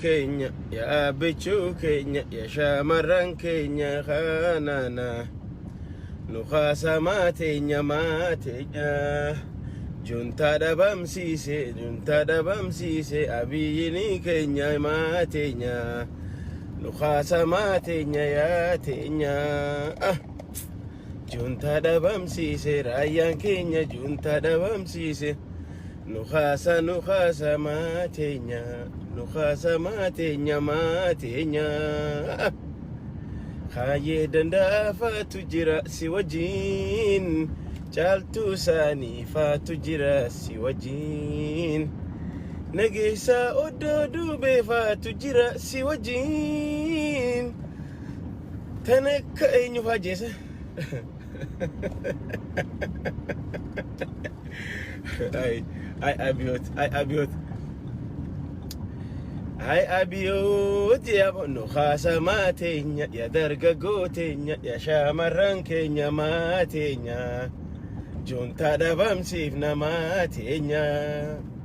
keenya yaa bichuu keenya yaa shamarran keenya kanana nu kaasamaa teenya maateenya juntaa dhabamsiise juntaa dhabamsiise abiyyini keenya maateenya nu kaasamaa teenya yaa teenya ah. Juntaa dhabamsiise raayyaan keenya juntaa dhabamsiise nu kaasa nu kaasa maateenya nu kaasa maateenya maateenya kaayyee dandaafaatu jira si wajjin caaltuu isaanii faatu jira si wajjin nageessaa oddoo duubee faatu jira si wajjin. Tan akka eenyu fa'aa jeese? Ay, ay abiyoot, ay abiyoot, ay abiyoot yaa bonnu haasa maateenya, yaa dargaggoo teenya, yaa shaamarran keenya maateenya, juntaa dhabamsiifna maateenya.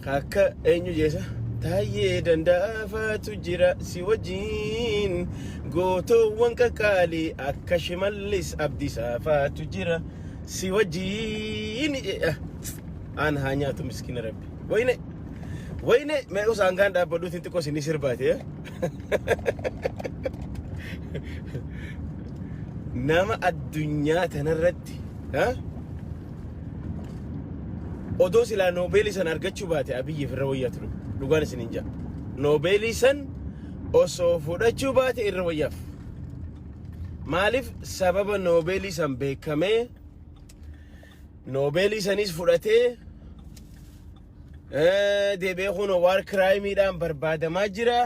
Akka eenyu jeesa taayyee danda'afaatu jira si wajjin gootoowwan qaqqaalii akka shimallis abdisaafaatu jira si wajjin jedha aan haa nyaatu miskiina rabbi wayne wayne mee usaan gaan dhaabbadhuutiin xiqqoo isinii sirbaate nama addunyaa tanarratti Ati. Ha? Odoo silaa Noobeelii san argachuu baate Abiyyiif irra wayyaa ture. Dhugaan isiniin ja'a. Noobeelii san osoo fudhachuu baate irra wayyaaf. Maaliif sababa Noobeelii san beekamee Noobeelii sanis fudhatee eh, deebi'ee kun waar kiraayimiidhaan barbaadamaa jira.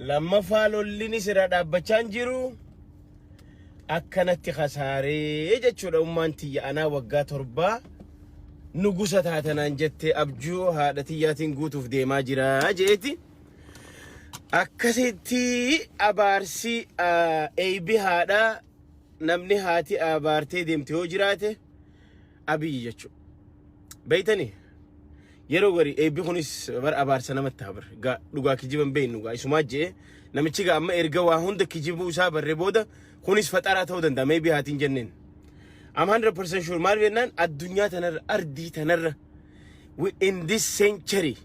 Lammaffaa lollinis irraa dhaabbachaa hin jiru. akkanatti kasaaree jechuudha ummaan tiyya anaa waggaa torbaa nugusa taatanaan jettee abjuu haadha tiyyaatiin guutuuf deemaa jira jeeti. Akkasitti abaarsi eeybi haadhaa namni haati abaartee deemte yoo jiraate. Abiy jechu. Beeytanii? Yeroo gari eebbi kunis bar abaarsa namatti haa bar. Gaa dhugaa kijiban beeynu gaa isumaa je'e namichi gaa amma erga waa hunda kijibuu isaa barre booda kunis faxaraa ta'uu danda'a meebii haatiin jenneen. I'm 100% sure maal jennaan addunyaa tanarra ardii tanarra we- in this century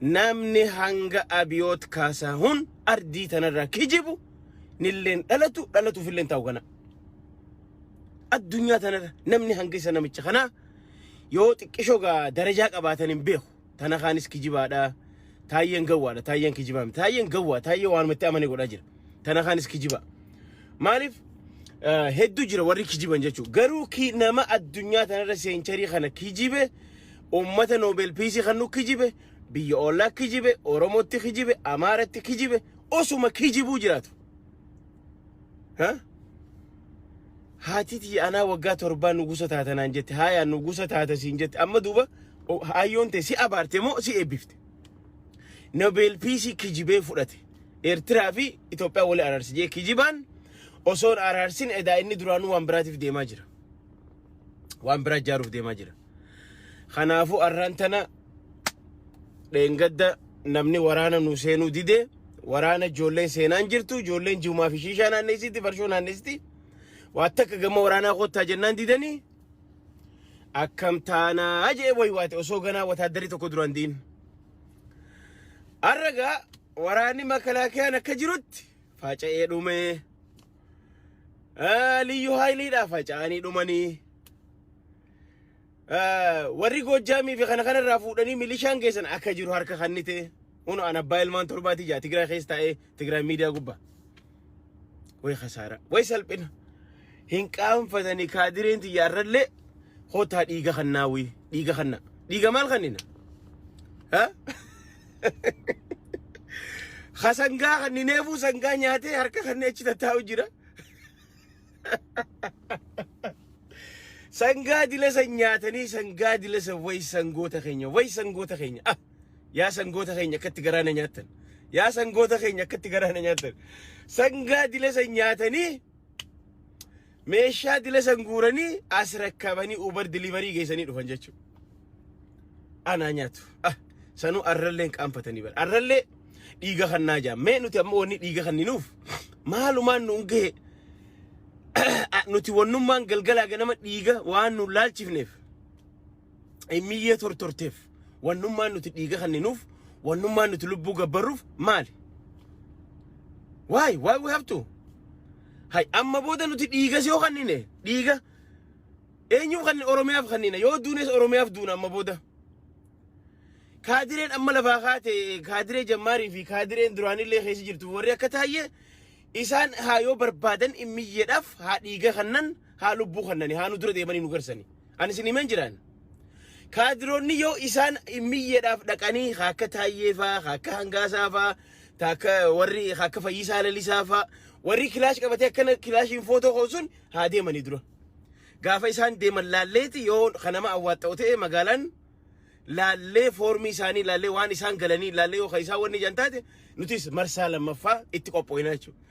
namni hanga abiyoot kaasaa hun ardii tanarraa kijibu nilleen dhalatu dhalatuuf illeen ta'u kana. addunyaa tanarra namni hanga isa namicha kanaa yoo xiqqishoo gaa darajaa qabaatan hin beeku tana kaanis kijibaadha taayyeen gawwaadha taayyeen kijibaa miti taayyeen gawwaa taayyee waanuma itti amane godhaa jira tana kaanis kijibaa maaliif eh, hedduu jira warri kijiban jechuudha garuu ki nama addunyaa tanarra seencharii kana kijibe ummata noobel piisii kan nu kijibe biyya ollaa kijibe oromootti kijibe amaaratti kijibe osuma kijibuu jiraatu Haa? Haati tiyya anaa waggaa torbaa nugusa taata naan jette. Haayaa nugusa taata siin jette. Amma duuba o- haayyoon tee si abaarte moo si eebbifte? Nobel Piisii kijibee fudhate. Eertiraa fi Itoophiyaa wali araarsi jee kijibaan osoon araarsin edaa inni duraanuu waan biraatiif deemaa jira. Waan biraa ijaaruuf deemaa jira. Kanaafuu arraan tana dheengadda namni waraana nu seenuu dide waraana ijoolleen seenaan jirtu ijoolleen jiumaa fi shiishaa naanneessitti farshoo naanneessitti waa takka gama waraanaa kottaa jennaan didanii akkam taanaa jee waywaate osoo ganaa wataaddarii tokko duraan diin. Arragaa waraanni makalaakiyaan akka jirutti faca'ee dhumee. Liyyu haayiliidhaa faca'anii dhumanii. warri Goojjaamii fi kana kanarraa fuudhanii milishaan keessan akka jiru harka kannite hunu an abbaa ilmaan torbaatii jaa Tigraay keessa taa'ee Tigraay miidiyaa gubbaa. Way kasaara way salphina hin qaanfatanii kaadireen tiyya irrallee hotaa dhiiga kannaa wii dhiiga kannaa dhiiga maal kannina? Hasangaa kannineefuu sangaa nyaatee harka kannee achi tattaa'u jira. Sangaa dilasa nyaatanii sangaa dilasa way sangoota keenya way sangoota keenya ah yaa sangoota keenya akkatti garaana nyaattan yaa sangoota keenya akkatti garaana nyaattan sangaa dilasa nyaatanii meeshaa dilasa guuranii as rakkabanii ubar diliverii geessanii dhufan jechuudha. anaa nyaatu ah sanuu arralleen qaanfatanii bara arrallee dhiiga kannaa jaa mee nuti amma wanni dhiiga kanninuuf maalumaan nuun gahe Ah, nuti wannummaan galgalaa ganama dhiiga waan nuun laalchifneef miyyee tortorteef wannummaan nuti dhiiga kanninuuf wannummaan nuti lubbuu gabbarruuf maali waay waay we have to hay amma booda nuti dhiiga si yoo kannine dhiiga Eenyuuf kanneen Oromiyaaf kanniina yoo duunes Oromiyaaf duuna amma booda. Kaadireen amma lafaa kaate kaadiree jammaarii fi kaadireen duraanillee keessa jirtu warri akka taayye isaan haa yoo barbaadan immiyyeedhaaf haa dhiiga kannan haa lubbuu kannani haa nu dura deemanii nu garsani. Ani isin himeen jiraan. Kaadiroonni yoo isaan immiyyeedhaaf dhaqanii haa akka taayyee faa haa akka hangaasaa faa taa akka warri haa akka fayyisaa lalisaa faa warri kilaash qabatee akkana kilaashiin footoo koo sun haa deemanii dura. Gaafa isaan deeman laalleeti yoo kan nama awwaaxxa'u ta'e magaalaan laallee foormii isaanii laallee waan isaan galanii laallee yoo kan isaan wanni jan taate nutis marsaa lammaffaa itti qopho'ina jechuudha.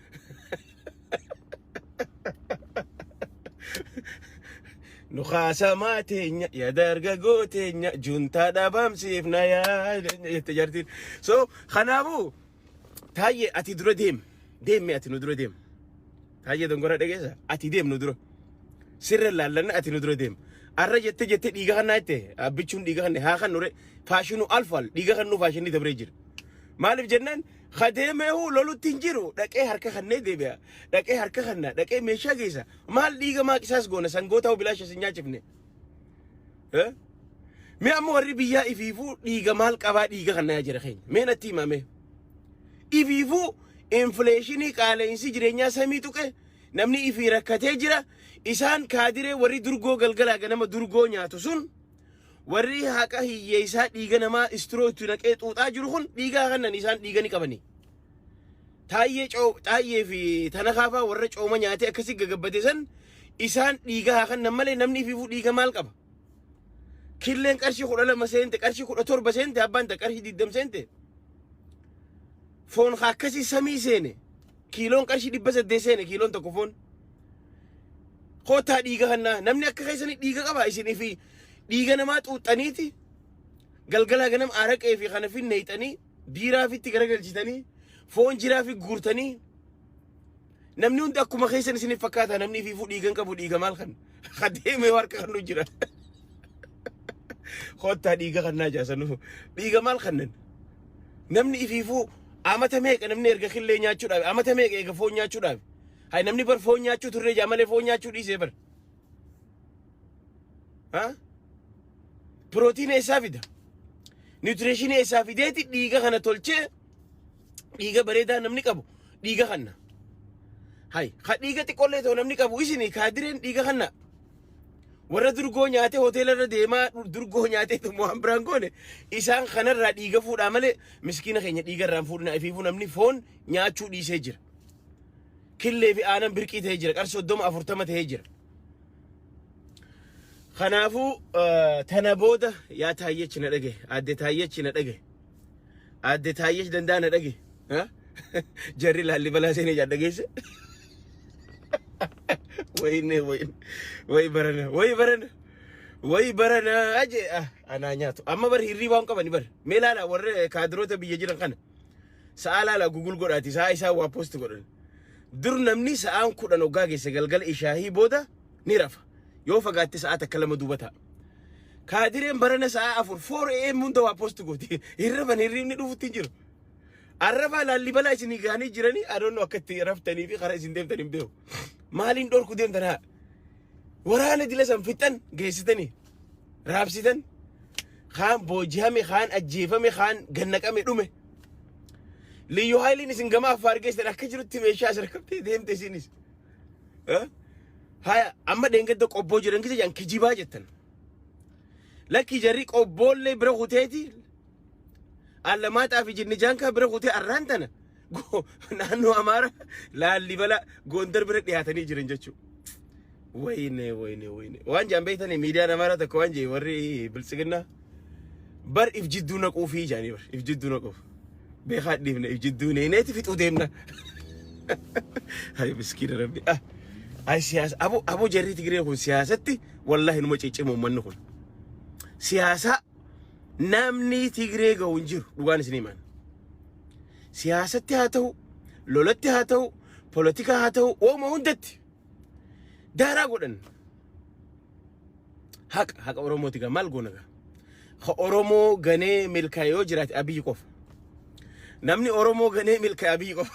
Nu kaasamaa teenya yaa dargagoo teenya juntaa dhaabamsiifna yaa jette jartiin. So kanaafuu Taayye ati dura deem. Deemmi ati nu dura deem. Taayye dongora dhageessa. Ati deem nu dura. Sirra laallanna ati nu dura deem. Arra jette jette dhiiga kannaa jette. Abbichuun dhiiga kanne haa kan nure. Faashinu alfal dhiiga kannuu faashinni dabree jira. Maaliif jennaan ha deemeehu lolutti hin jiru dhaqee harka kannee deebi'a. Dhaqee harka kanna dhaqee meeshaa geessa. Maal dhiiga maaqisaas goona sangoota hoo bilaasha sin nyaachifne. Eh? Mee amma warri biyyaa ifiifuu dhiiga maal qabaa dhiiga kan nayaa jira keenya. Mee natti himaa mee. Ifiifuu infileeshinii qaala'insi jireenyaa samii tuqe namni ifii rakkatee jira. Isaan kaadiree warri durgoo galgalaa ganama durgoo nyaatu sun warri haqa hiyyeessaa dhiiga namaa istiroo itti naqee xuuxaa jiru kun dhiigaa kannan isaan dhiiga ni qabanii. Taayyee coo taayyee fi tana kaafaa warra cooma nyaatee akkasii gagabbate san isaan dhiiga haa kannan malee namni ifiifuu dhiiga maal qaba? Killeen qarshii kudha lama seente qarshii kudha torba seente abbaan ta qarshii digdam seente foon haa akkasii samii seene kiiloon qarshii dhibba saddeet seene kiiloon tokko foon kootaa dhiiga kannaa namni akka keessanii dhiiga qaba isinii fi dhiiga namaa xuuxxaniiti galgalaa ganam aaraqee fi kana fi neeyxanii Biiraafitti garagalchitanii foon jiraafi guurtanii namni hundi akkuma keessan isiniif fakkaata namni fiifuu dhiigan qabu dhiiga maal kan ha deemee harka kan nu jira kottaa dhiiga kan naa jaasanu dhiiga maal kannan namni ifiifuu amata meeqa namni erga killee nyaachuudhaaf amata meeqa eega foon nyaachuudhaaf hay namni bar foon nyaachuu turre jaa malee foon nyaachuu dhiisee bar Ha? Pirootiina eessaa fida? Niwutireeshinii eessaa fideeti dhiiga kana tolchee dhiiga bareedaa namni qabu dhiiga kanna. Hay, ka dhiiga xiqqollee ta'u namni qabu isin kaadireen dhiiga kanna. Warra durgoo nyaatee hoteela irra deemaa durgoo nyaatee tummoo waan biraan goone isaan kanarraa dhiiga fuudhaa malee miskiina keenya dhiiga irraan fuudhina ifiifuu namni foon nyaachuu dhiisee jira. killee fi aanan birqii ta'ee jira. Qarshii soddoma afurtama ta'ee jira. Kanaafuu eh, tana booda yaa taayyechi na dhage aadde taayyechi na dhage aadde taayyechi dandaa na dhage ha? jarri laalli balaa seenee jaa dhageesse wayinne wayin wayi barana wayi barana wayi barana aje ah, anaa nyaatu amma bar hirrii waan qabani bar mee laala warra kaadiroota biyya jiran kana Sa'aa laala gugul godhaati sa'aa isaa waa post godhan. Dur namni sa'aan kudhan oggaa geesse galgala ishaahii booda ni rafa. Yoo fagaatte sa'aa takka lama duuba ta'a. Kaadireen barana sa'aa afur 4 am hunda waa post gooti. Hin rafan hirriibni dhufutti hin jiru. Arrafaa laallibalaa isinii gahanii jiranii adoonnoo akka itti raftanii fi karaa isin deemtan hin beeku. Maaliin dhorku deemtan haa? Waraana dila san fixan geessitanii. raabsitan kaan boojihame kaan ajjeefame kaan gannaqame dhume liyyu haayiliin isin gama affaar geessan akka jirutti meeshaa sarkabtee deemte isinis Eh? haya amma dheengadda qobboo jiran gisa jedhan kijibaa jettan lakki jarri qobboollee bira kuteeti allamaaxaa fi jinnijaan kaa bira kutee arraan tana go- naannoo Amaara Laallibala Gondar bira dhiyaatanii jiran jechuudha. Wayne wayne wayne waan jaan beektanii miidiyaan Amaara tokko waan jee warri biltsiginnaa bar if jidduu naquu fi jaanii bar if jidduu naquuf beekaa dhiifne if jidduu neeneeti fixuu deemna. Hayi miskiina rabbi. Ah, Hayi siyaasa abo abo jarri Tigiree kun siyaasatti wallaahi numa ciccima uummanni kun. Siyaasaa namni Tigiree ga'u hin jiru dhugaan isin himaan. Siyaasatti haa ta'u, lolatti haa ta'u, polotikaa haa ta'u, waanuma hundatti daaraa godhan. Haqa, haqa Oromooti gaa maal goona gaa? Ka Oromoo ganee milkaa'e yoo jiraate Abiyyi qofa. Namni Oromoo ganee milkaa'e Abiyyi qofa.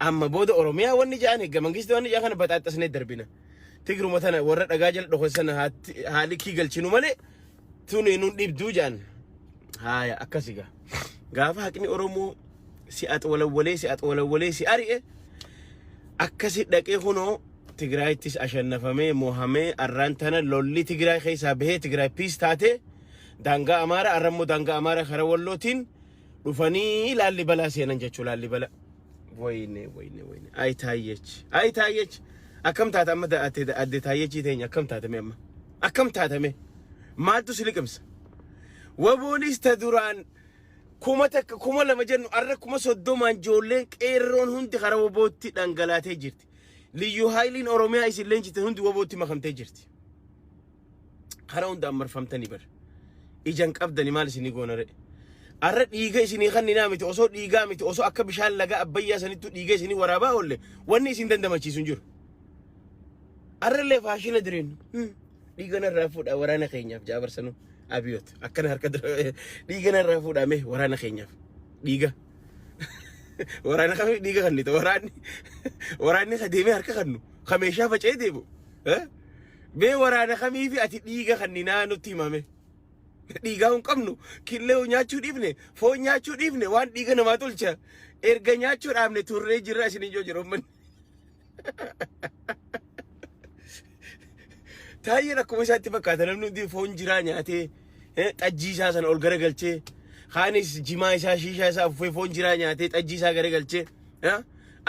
Amma booda Oromiyaa wanni ja'an hegga mangisti wanni ja'an kana baxaaxxasnee darbina. Tigruma tana warra dhagaa jala dhokosan haa likkii galchinu malee tun nun dhibduu ja'an. Haaya akkasi gaa. Gaafa haqni Oromoo si axwalawwalee si axwalawwalee si ari'e akkasi dhaqee kunoo Tigraayittis ashannafamee mohamee arraan tana lolli Tigraay keessaa bahee Tigraay piis taatee daangaa Amaaraa arrammoo daangaa Amaaraa karaa Wallootiin dhufanii laallibalaa seenan jechuu laallibala wayne wayne wayne ay taayyech ay taayyech akkam taata amma da- ate- adde taayyechii teenya akkam taatame amma akkam taatame maaltu si liqimsa waboonis ta duraan kuma takka kuma lama jennu arra kuma soddomaan ijoolleen qeerroon hundi kara wabootti dhangalaatee jirti liyyuu haayiliin oromiyaa isin leenjite hundi wabootti makamtee jirti kara hundaan marfamtani bar ijan qabdani maal isinii goonare arra dhiiga isinii kanninaa miti osoo dhiigaa miti osoo akka bishaan laga abbayyaa sanittu dhiiga isinii waraabaa oolle wanni isin dandamachiisu hin jiru arrallee faashina direen dhiigana irraa fuudhaa waraana keenyaaf jaabarsanu abiyoot akkana harka dhiigana irraa fuudhaa mee waraana keenyaaf dhiiga waraana kami dhiiga kannite waraanni waraanni ka deemee harka kannu ka meeshaa faca'ee deemu Mee waraana kamiifi ati dhiiga kanninaa nutti himame. Dhiigaa hin qabnu killee nyaachuu dhiifne foon nyaachuu dhiifne waan dhiiga namaa tolcha erga nyaachuu dhaabne turree jirra isin ijoo jira ummanni. Taayeen akkuma isaatti fakkaata namni hundi foon jiraa nyaatee eh, xajjii isaa sana ol garagalchee kaanis jimaa isaa shiishaa isaa uffee foon jiraa nyaatee xajjii isaa garagalchee. yaa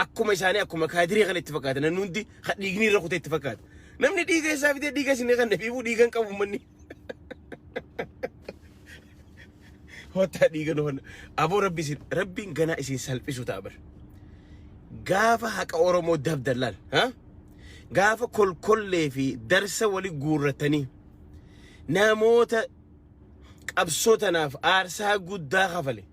akkuma isaanii akkuma kaadirii kana itti fakkaata namni hundi ka dhiigni irra kutee itti fakkaata namni dhiiga isaa fidee dhiiga isin kan dhabiibuu dhiigan qabu manni hotaa dhiiga nu honna aboo rabbi isin rabbiin ganaa isin salphisu ta'a bar gaafa haqa oromoo dabdallaan ha gaafa kolkollee fi darsa wali guurratanii namoota qabsoo tanaaf aarsaa guddaa kafale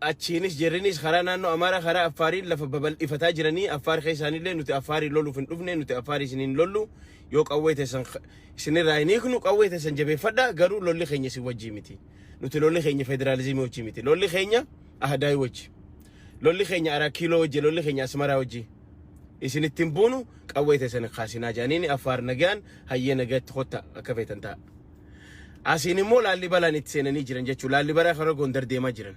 Achiinis jerrinis karaa naannoo Amaaraa karaa Affaariin lafa babal'ifataa jiranii Affaar keessaanillee nuti Affaariin loluuf hin dhufne nuti Affaar isin hin lollu yoo qawwee teessan isinirraa hin hiiknu qawwee teessan jabeeffadhaa garuu lolli keenya isin wajjii miti. Nuti lolli keenya federaalizimii wajjii miti. Lolli keenya Ahadaayii wajji. Lolli keenya Araa Kiiloo wajji lolli keenya Asmaraa wajji. Isin ittiin buunu qawwee teessan hin kaasinaa jedhaniini Affaar nagaan hayyee nagaatti kotta akka feetan ta'a. Asiin immoo Laallibalaan itti seenanii jiran jechuudha. Laallibalaa karaa Gondar deemaa jiran.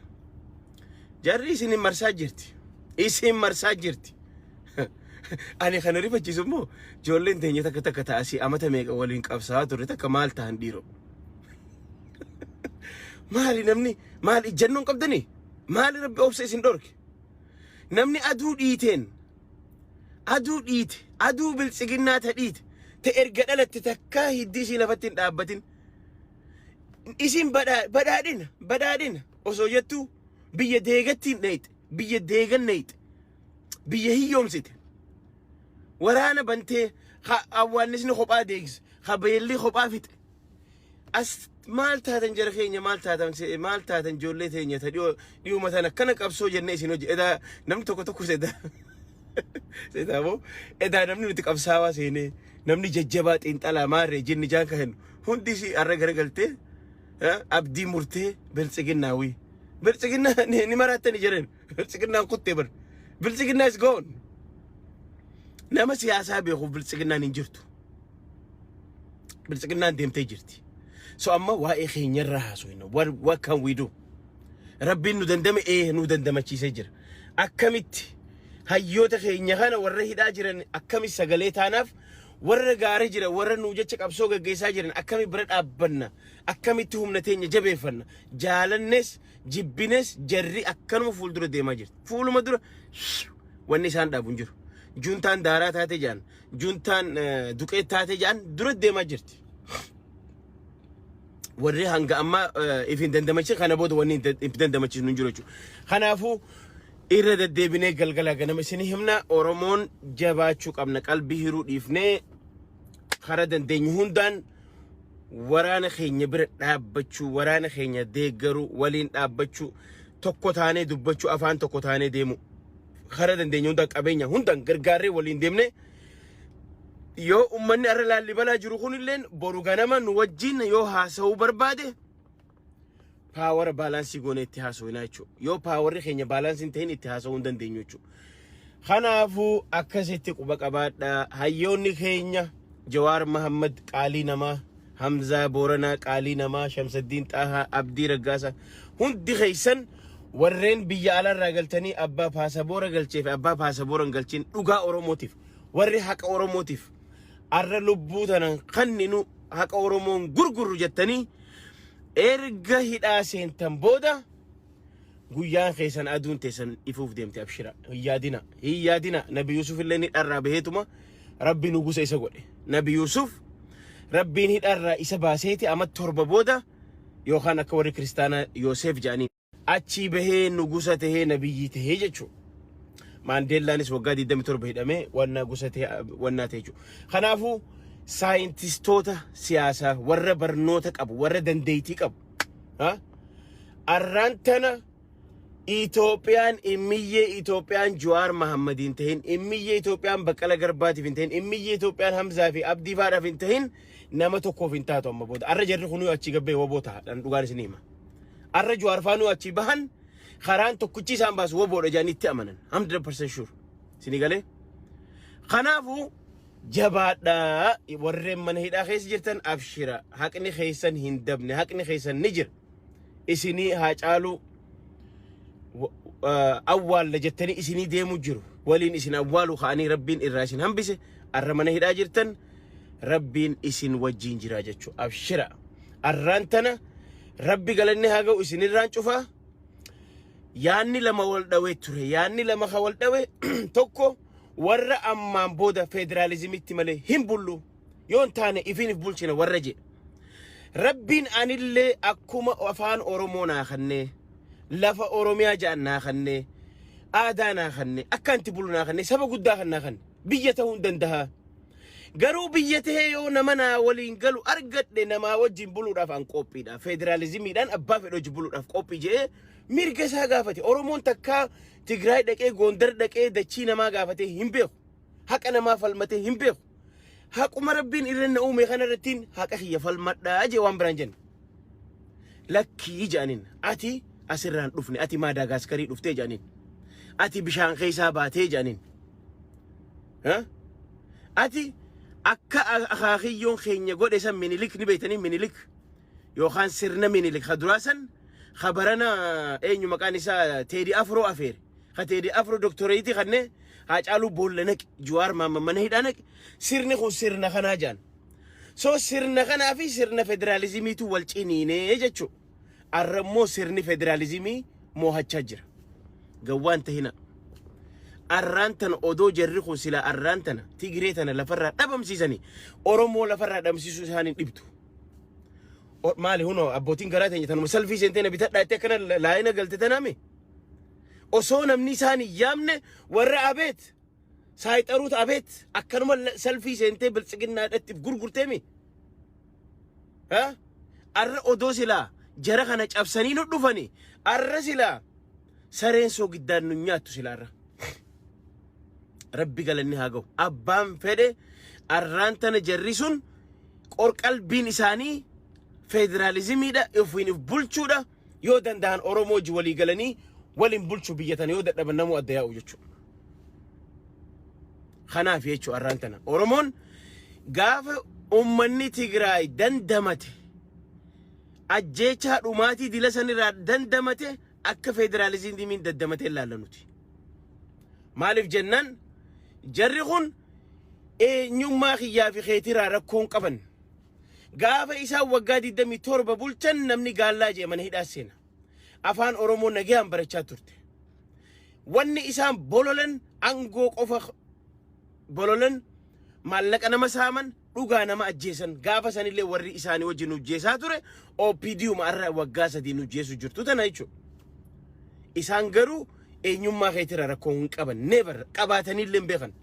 Jarri isin hin marsaa jirti. Isin marsaa jirti. Ani kana rifachiisu immoo ijoolleen teenya takka takka ta'a asii amata meeqa waliin qabsaa turre takka maal ta'an dhiiroo. Maali namni maal ijjannoon qabdanii? Maali rabbi obsa isin dhorke? Namni aduu dhiiteen Aduu dhiite, aduu biltsiginnaa ta dhiite, ta erga dhalatte takkaa hiddi isii lafatti hin dhaabbatin. Isin badhaa- badhaadhina, badhaadhina osoo jettuu biyya deegattiin dheeyxe, biyya deegan dheeyxe, biyya hiyyoomsite. Waraana bantee, ha awwaannisni kophaa deegse, ha beelli kophaa fixe. As maal taatan jara keenya maal taatan se- maal taatan ijoollee teenya ta dhiyoo dhiyuma tan akkana qabsoo jennee isin hojje edaa namni tokko tokko sedaa sedaa moo edaa namni nuti qabsaawaa seenee namni jajjabaa xiinxalaa maarree jinni jaan ka hennu hundi isii arra garagaltee eh, abdii murtee biltsiginnaawii biltsiginnaa ni ni maraattani jiran biltsiginnaan kuttee bar biltsiginnaa is gone nama siyaasaa beekuuf biltsiginnaan hin jirtu. biltsiginnaan deemtee jirti. So amma waa'ee keenyarraa haasofna. What, what can we do? Rabbiin nu dandame ee nu dandamachiisee jira. Akkamitti hayyoota keenya kana warra hidhaa jiran akkami sagalee taanaaf warra gaara jira warra nuu jecha qabsoo gaggeessaa jiran akkami bira dhaabbanna akkamitti humna teenya jabeeffanna jaalannes jibbines jarri akkanuma fuuldura deemaa jirti. Fuuluma dura wanni isaan dhaabu hin jiru. Juntaan daaraa taate jaan Juntaan duqeet taatee jedhan dura deemaa jirti. Warri hanga ammaa if hin dandamachin kana booda wanni if dandamachiisnu hin jiru jechuudha. Kanaafuu irra deddeebinee galgala ganama isinii himna Oromoon jabaachuu qabna qalbii hiruu dhiifnee karaa dandeenyu hundaan waraana keenya bira dhaabbachuu waraana keenya deeggaruu waliin dhaabbachuu tokko taanee dubbachuu afaan tokko taanee deemuu. Kara dandeenye hundaan qabeenya hundaan gargaarree waliin deemne yoo ummanni har'a laallibalaa jiru kunilleen boru ganama nu wajjin yoo haasa'uu barbaade paawara baalaansii goonee itti haasa'inaa jechuudha. Yoo paawarri keenya baalaansii hin ta'in itti haasa'uu hin dandeenyu jechuudha. Kanaafuu akkasitti quba qabaadha. Hayyoonni keenya Jawaar Mahammad qaalii namaa Hamzaa Booranaa Qaalii Namaa, Shamsaddiin Xaahaa, Abdii Raggaasa hundi keessan warreen biyya alaarraa galtanii abbaa paasaboora galchee fi abbaa paasaboora hin galchin dhugaa Oromootiif warri haqa Oromootiif arra lubbuu tanan kanninu haqa Oromoon gurgurru jettanii erga hidhaa seentan booda guyyaan keessan aduun teessan ifuuf deemte abshira hin yaadina hin yaadina nabi yuusuf illee ni dharraa baheetuma rabbi nugusa isa godhe nabi yuusuf rabbiin hidharraa isa baaseeti amma torba booda yookaan akka warri kiristaanaa yooseef jedhanii achii bahee nugusa tahee nabiyyii tahee jechuu maandeellaanis waggaa 27 hidhamee wannaa gusa tahee wannaa tahee jechuu kanaafuu saayintistoota siyaasaa warra barnoota qabu warra dandeettii qabu Ha? Arraan tana Itoophiyaan immiyyee Itoophiyaan Juwaar Mahammad hin tahin, immiyyee Itoophiyaan Baqqala Garbaatiif hin tahin, immiyyee Itoophiyaan Hamzaa fi Abdii faadhaaf hin tahin nama tokkoof hin taatu amma booda. Arra jarri kunuu achi gabbee waboo taha dhan dhugaan isin hima. Arra Juwaar faanuu achi bahan karaan tokkichi isaan baasu waboodha jedhanii itti amanan. 100% sure. Isinii galee? Kanaafuu Jabaadhaa warreen mana hidhaa keessa jirtan abshira haqni keessan hin dabne haqni keessan ni jira isinii haa caaluu wa- ah, awwaalla jettanii isinii deemu jiru waliin isin awwaalu ka'anii rabbiin irraa isin hambise arra mana hidhaa jirtan rabbiin isin wajjiin jira jechuu abshira arraan tana rabbi galanni haa ga'u isinirraan cufaa yaanni lama wal dhawe ture yaanni lama ka wal dhawe tokko warra ammaan booda federaalizimitti malee hin bullu yoo hin taane ifiinif bulchina warra jedhe. Rabbiin anillee akkuma afaan Oromoo naa kennee lafa Oromiyaa ja'an naa kennee aadaa naa kennee akkaan itti bulu naa kennee saba guddaa kan naa kenne biyya ta'uu hin danda'a. Garuu biyya ta'ee yoo nama naa waliin galu argadhe namaa wajjin buluudhaaf an qophiidha. Federaalizimiidhaan abbaa fedhe wajjin buluudhaaf qophii jedhee mirga isaa gaafate. Oromoon takkaa Tigraay dhaqee Goondar dhaqee dachii namaa gaafatee hin beeku. Haqa namaa falmatee hin beeku. Haquma rabbiin irra na uume kana irrattiin haqa kiyya falmadhaa jee waan biraan jenne. Lakkii jedhaniin ati asirraan dhufne ati Maadaagaaskarii dhuftee jedhaniin. Ati bishaan keessaa baatee jedhaniin. Ha? Ati akka akaakiyyoon keenya godhe san minilik ni beektanii minilik. yookaan sirna minilik ka duraa san ka barana eenyu maqaan isaa teedi afroo afeere ka teedi afroo doktoreeyitii kanne haacaaluu boolla naqi juwaar maamma mana hidhaa naqi sirni kun sirna kanaa jaan so sirna kanaa fi sirna federaalizimiitu wal ciniinee jechuu arra immoo sirni federaalizimii moohachaa jira gawwaan tahina arraan tana odoo jarri kun silaa arraan tana tigiree tana lafarraa dhabamsiisanii oromoo lafarraa dhabamsiisuu isaanii dhibdu O- Maali huno abbootiin garaa teenya tanuma salfii seentee na bitadhaa jettee akkana la- laayina galte tanaami. Osoo namni isaan hin yaamne warra abeet saayixaruut abeet akkanuma la- salfii seentee biltsiginnaadhaatti gurgurteemi. Ha? Arra odoo silaa jara kana cabsanii nu dhufani arra silaa sareen soogiddaan nu nyaattu silaa arra. Rabbi galanni haa gahu. Abbaan fedhe arraan tana jarri sun qorqalbiin isaanii federaalizimiidha ofiin of bulchuudha yoo danda'an Oromoo wajji walii galanii waliin bulchu biyya tana yoo dadhaban namuu adda yaa'u jechuudha. Kanaaf jechuudha arraan tana Oromoon gaafa uummanni Tigraay dandamate ajjeechaa dhumaatii dila sanirraa dandamate akka federaalizimiin daddamatee ilaalla nuti. Maaliif jennaan jarri kun eenyummaa kiyyaa fi keetiraa rakkoon qaban. Gaafa isaan waggaa 27 bulchan namni gaallaa jee mana hidhaa seena. Afaan Oromoo nagayaan barachaa turte. Wanni isaan bololan angoo qofa bololan maallaqa nama saaman dhugaa nama ajjeesan gaafa sanillee warri isaanii wajjin nu jeesaa ture OPDUma har'a waggaa sadii nu jeesu jirtu tana jechuudha. Isaan garuu eenyummaa keetira rakkoo hin qaban never qabaatanillee hin beekan.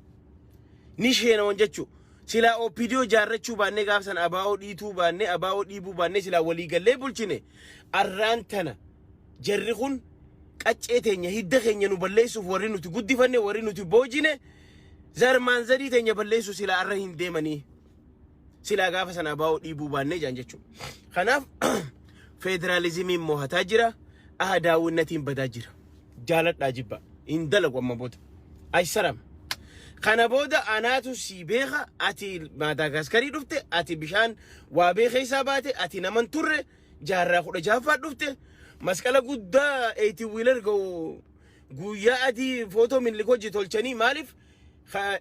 Ni sheenawan jechuu silaa OPDO jaarrachuu baannee gaafa sana abaa'oo dhiituu baannee abaa'oo dhiibuu baannee silaa walii gallee bulchine arraan tana jarri kun qaccee teenya hidda keenya nu balleessuuf warri nuti guddifanne warri nuti boojine Zar maanzarii teenya balleessu silaa arra hin deemanii. Silaa gaafa sana abaa'oo dhiibuu baannee jaan jechuudha. Kanaaf federaalizimiin mohataa jira. Aha daawwannatiin badaa jira. Jaaladhaa jibba. Hin dalagu amma booda. Ayisaram. Kana booda anaatu sii beeka ati Maadaagaaskarii dhufte ati bishaan waabee keessaa baate ati naman turre jaarraa kudha jahaffaa dhufte masqala guddaa eeyti wiilar ga'u Guuyyaa adii footoo minlik hojii tolchanii maaliif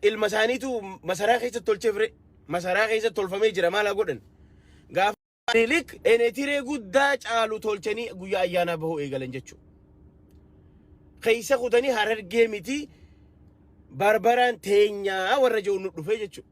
ilma isaaniitu masaraa keessa tolchee fire masaraa keessa tolfamee jira maal haa godhan gaafa minlik enetiree guddaa caalu tolchanii guyyaa ayyaanaa bahuu eegalan jechuudha. Keessa kutanii harargee miti barbaraan teenyaa warra jiru nu dhufee jechuudha.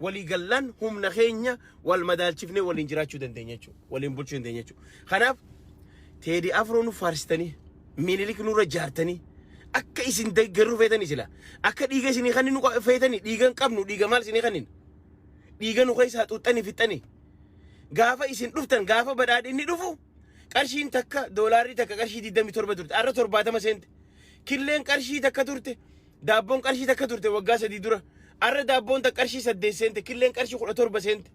walii gallaan humna keenya wal madaalchifnee waliin jiraachuu dandeenya jechuudha. Waliin bulchuu dandeenya jechuudha. Kanaaf teedii afroo nu faarsitanii minilik nurra jaartanii akka isin deeggaruu feetanii sila akka dhiiga isinii kan nu feetanii dhiiga hin qabnu dhiiga maal isinii kan dhiiga nu keessaa xuuxxanii fixxanii gaafa isin dhuftan gaafa badhaadhinni dhufu qarshiin takka doolaarri takka qarshii 27 turte arra 70 seente killeen qarshii takka turte Daabboon qarshii takka turte waggaa sadii dura. Arra daabboon takka qarshii saddeet seente killeen qarshii kudha torba seente.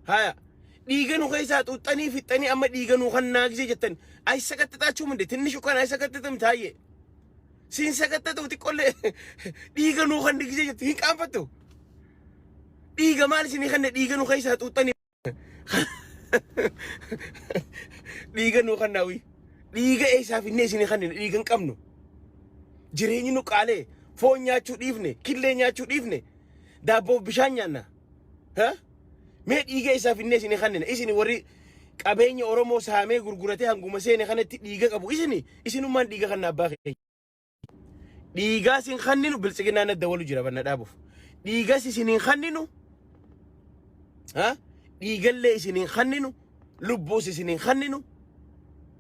Haya. Dhiiga nu keessaa xuuxxanii fixxanii amma dhiiga nu kan naagisee jettan. Ayi sakattaxaachuu minde tinni shukaan ayi sakattaxam taayye. Siin sakattaxu xiqqollee dhiiga nu kan digisee jettu hin qaanfattu. Dhiiga maal isinii kanne dhiiga nu keessaa xuuxxanii. dhiiga nuu kan naawii dhiiga eessaa finnee isin kan dhiiga hin qabnu jireenyi nu qaalee foon nyaachuu dhiifne killee nyaachuu dhiifne daabboof bishaan nyaanna ha? mee dhiiga eessaa finnee isin kan isin warri qabeenya oromoo saamee gurguratee hanguma seene kanatti dhiiga qabu isin isinummaan dhiiga kan abbaa keenya Dhiigaa sin kanninu biltsiginaa na dawalu jira banna dhaabuuf. Dhiigas isin hin kanninu. Ha? Dhiigallee isin hin kanninu. Lubbuus isin hin kanninu.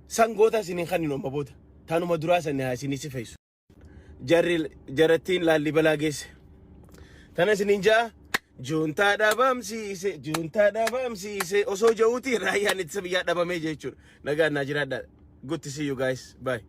Sangoota isin hin kanninu amma booda. Tanuma duraa sanni haa isin si fayyisu. Jarri jarattiin laallibalaa geesse. Tana isin hin ja'a. Juuntaa dhabamsiise, juuntaa dhabamsiise. Osoo ja'uuti raayyaan ittisa biyyaa dhabamee jechuudha. Nagaan naa jiraadhaa. Good to see you guys. Bye.